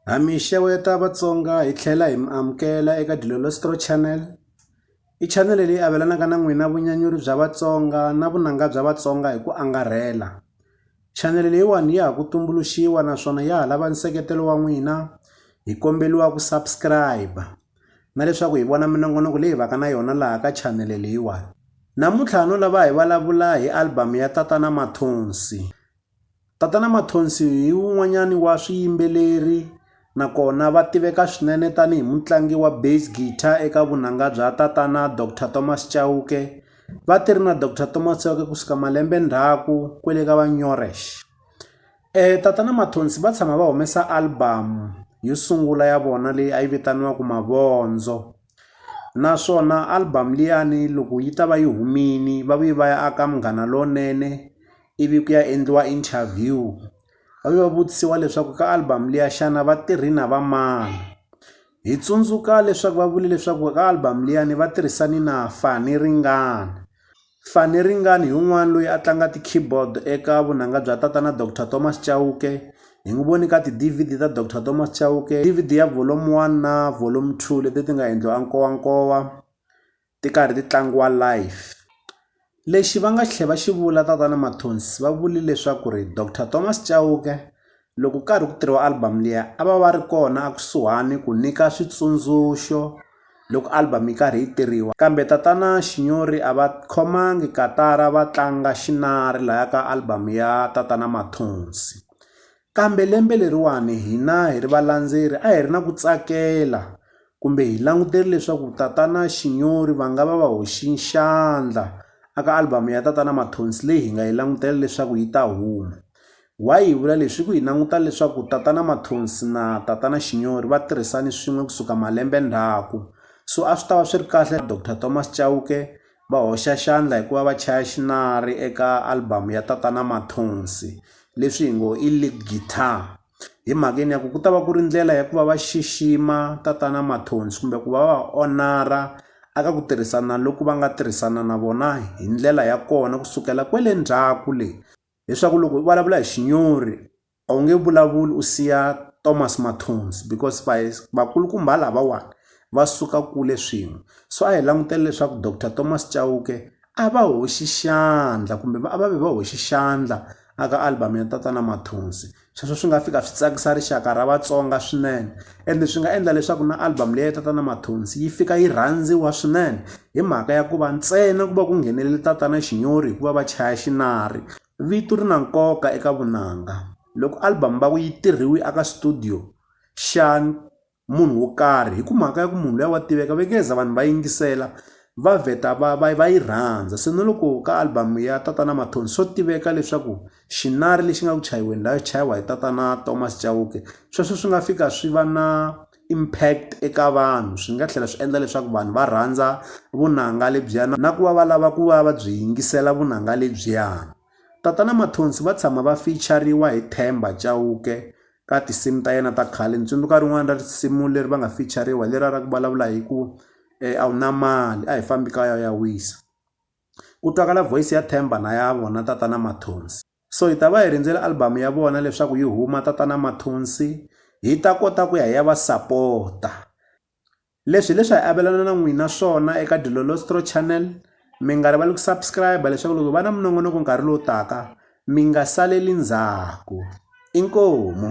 Ha mi xeweta Vatsonga hi tlhela hi mi amukela eka Dilolostro Channel i channel leyi avelanaka na n'wina vunyanyuri bya Vatsonga na vunanga bya Vatsonga hi ku angarhela channel leyiwani ya ha ku tumbuluxiwa naswona ya ha lava nseketelo wa n'wina hi kombeliwa ku subscribe na leswaku hi vona minongonoko leyi vaka na yona laha ka channel leyiwani namuntlha no lava hi vulavula hi album ya tatana Mathonsi Tatana Mathonsi hi wun'wanyani wa swiyimbeleri na kona va tiveka swinene tani hi mutlangi wa bass guitar eka vunanga bya tatana Doctor Thomas Chauke. Va tirhi na Doctor Thomas Chauke ku suka malembe ndzhaku kwele ka va Nyoresh. Tatana Mathonsi va tshama va humesa album yo sungula ya vona leyi a yi vitaniwaku Mavondzo. naswona album liyani loko yi ta va yi humile va vuye va ya aka Munghana Lonene ivi ku ya endliwa interview va vuye va vutisiwa leswaku ka album liya xana va tirhi na va mani hi tsundzuka leswaku va vule leswaku ka album liyani va tirhisane na Fani Ringani. Faneringani hi un'wana loyi a tlanga ti-keyboard eka vunanga bya tatana Doctor Thomas Chauke. Hi n'wi vone ka ti-D_V_D ta Doctor Thomas Chauke. D_V_D ya volume one na volume two leti ti nga endliwa enkowankowa, ti karhi ti tlangiwa live. Lexi va nga tlhela va xi vula tatana Mathonsi va vule leswaku ri Doctor Thomas Chauke, Loko ku karhi ku tirhiwa album liya a va va ri kona a kusuhani ku nyika switsundzuxo loko album yi karhi yi tirhiwa kambe tatana Xinyori a va khomangi katara va tlanga xinari laya ka album ya tatana Mathonsi kambe lembe leriwani hina hi ri valandzeri a hi ri na ku tsakela kumbe hi langutele leswaku tatana Xinyori va nga va va hoxi xandla a ka album ya tatana Mathonsi leyi hi nga yi langutela leswaku yi ta huma. Why hi vula leswi? Hi ku hi languta leswaku tatana Mathonsi na tatana Xinyori va tirhisane swin'we kusuka malembe ndzhaku. So a swi ta va swi ri kahle Doctor Thomas Chauke va hoxa xandla hi ku va va chaya xinari eka album ya tatana Mathonsi leswi hi ngo i lead guitar. Hi mhaka yini ya ku ku ta va ku ri ndlela ya ku va va xixima tatana Mathonsi kumbe ku va va va honor-a eka ku tirhisana loku va nga tirhisana na vona hi ndlela ya kona kusukela kwele ndzhaku le. leswaku loko u vulavula hi xinyori a wu nge vulavuli u siya Thomas Mathonsi because va vakulukumba lavawani va suka kule swin'we so a hi langutele leswaku Doctor Thomas Chauke a va hoxi xandla kumbe va a va vi va hoxi xandla a ka album ya tatana Mathonsi. sweswo swi nga fika swi tsakisa rixaka ra Vatsonga swinene ende swi nga endla leswaku na album leyi ya tatana Mathonsi yi fika yi rhandziwa swinene hi mhaka ya ku va ntsena ku va ku nghenelele tatana Xinyori hikuva va chaya xinari vito ri na nkoka eka vunanga loko album va ku yi tirhiwi aka studio xa munhu wo karhi hi ku mhaka ya ku munhu luya wa tiveka va nge za vanhu va yingisela va vheta va va va yi rhandza se na loko ka album ya tatana mathonsi swo tiveka leswaku xinari lexi nga ku chayiweni laha chayiwa hi tatana thomas chauke sweswo swi nga fika swi va na impact eka vanhu swi nga tlhela swi endla leswaku vanhu va rhandza vunanga lebyiya na ku va va lava ku va va byi yingisela vunanga lebyiya tatana mathonsi va tshama va fichariwa hi themba chauke ka tinsimu ta yena ta khale ni tsundzuka rin'wana ra risimu leri va nga fichariwa hi leriya ra ku vulavula hi ku a wu na mali a hi fambi kaya u ya wisa ku twakala voice ya Themba na ya vona tatana Mathonsi so hi ta va hi rindzele album ya vona leswaku yi huma tatana Mathonsi hi ta kota ku ya hi ya va sapota. Leswi hi leswi hi avelana na n'wina swona eka Dilolostro Channel. Mi nga rivali ku subscribe leswaku loko hi va na minongonoko nkarhi lowu taka mi nga saleli ndzhaku. Inkomu.